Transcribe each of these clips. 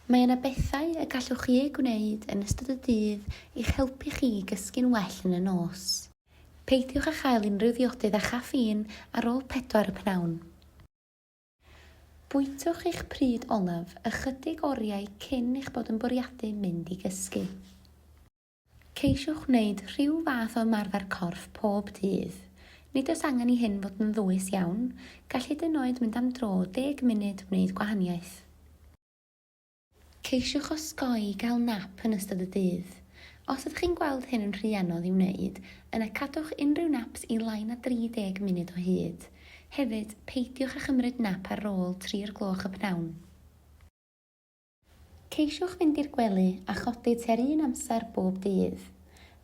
Mae yna bethau y gallwch chi eu gwneud yn ystod y dydd i'ch helpu chi i gysgu'n well yn y nos. Peidiwch â chael unrhyw ddiodydd â chaffîn ar ôl pedwar y p'nawn. Bwytwch eich pryd olaf ychydig oriau cyn eich bod yn bwriadu mynd i gysgu. Ceisiwch wneud rhyw fath o ymarfer corff pob dydd. Nid oes angen i hyn fod yn ddwys iawn, gall hyd yn oed mynd am dro o deg munud wneud gwahaniaeth. Ceisiwch osgoi gael nap yn ystod y dydd. Os ydych chi'n gweld hyn yn rhy anodd i'w wneud, yna cadwch unrhyw naps i lai na 30 munud o hyd. Hefyd, peidiwch â chymryd nap ar ôl tri'r gloch y p'nawn. Ceisiwch fynd i'r gwely a chodi tua'r un amser bob dydd.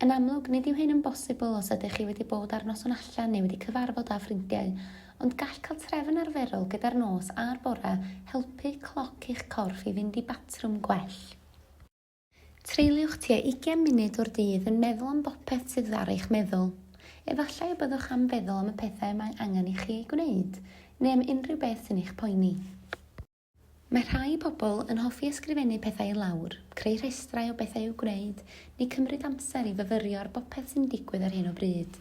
Yn amlwg, nid yw hyn yn bosibl os ydych chi wedi bod ar noson allan neu wedi cyfarfod â ffrindiau, ond gall cael trefn arferol gyda'r nos a'r bore helpu cloc eich corff i fynd i batrwm gwell. Treuliwch tua 20 munud o'r dydd yn meddwl am bopeth sydd ar eich meddwl. Efallai y byddwch am feddwl am y pethau y mae angen i chi eu gwneud, neu am unrhyw beth sy'n eich poeni. Mae rhai pobl yn hoffi ysgrifennu pethau i lawr, creu rhestrau o bethau i'w gwneud, neu cymryd amser i fyfyrio ar bopeth sy'n digwydd ar hyn o bryd.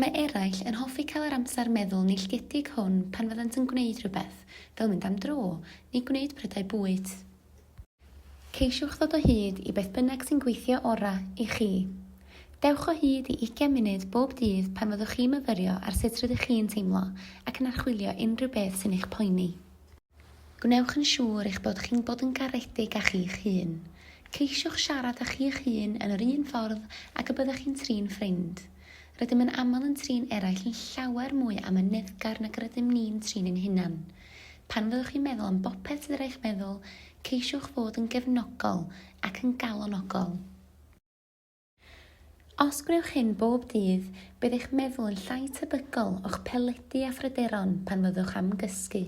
Mae eraill yn hoffi cael yr amser meddwl neilltuedig hwn pan fyddant yn gwneud rhywbeth, fel mynd am dro, neu gwneud prydau bwyd. Ceisiwch ddod o hyd i beth bynnag sy'n gweithio orau i chi. Dewch o hyd i ugain munud bob dydd pan fyddwch chi'n myfyrio ar sut rydych chi'n teimlo ac yn archwilio unrhyw beth sy'n eich poeni. Gwnewch yn siŵr eich bod chi'n bod yn garedig â chi'ch hun. Ceisiwch siarad â chi'ch hun yn yr un ffordd ag y byddech chi'n trin ffrind. Rydym yn aml yn trin eraill yn llawer mwy amyneddgar nag yr ydym ni'n trin ein hunain. Pan fyddwch chi'n meddwl am bopeth sydd ar eich meddwl, ceisiwch fod yn gefnogol ac yn galonogol. Os gwnewch hyn bob dydd, bydd eich meddwl yn llai tebygol o'ch peledu a phryderon pan fyddwch am gysgu.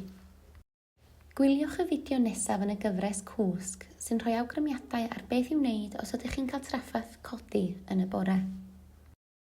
Gwyliwch y fideo nesaf yn y gyfres Cwsg, sy'n rhoi awgrymiadau ar beth i'w wneud os ydych chi'n cael trafferth codi yn y bore.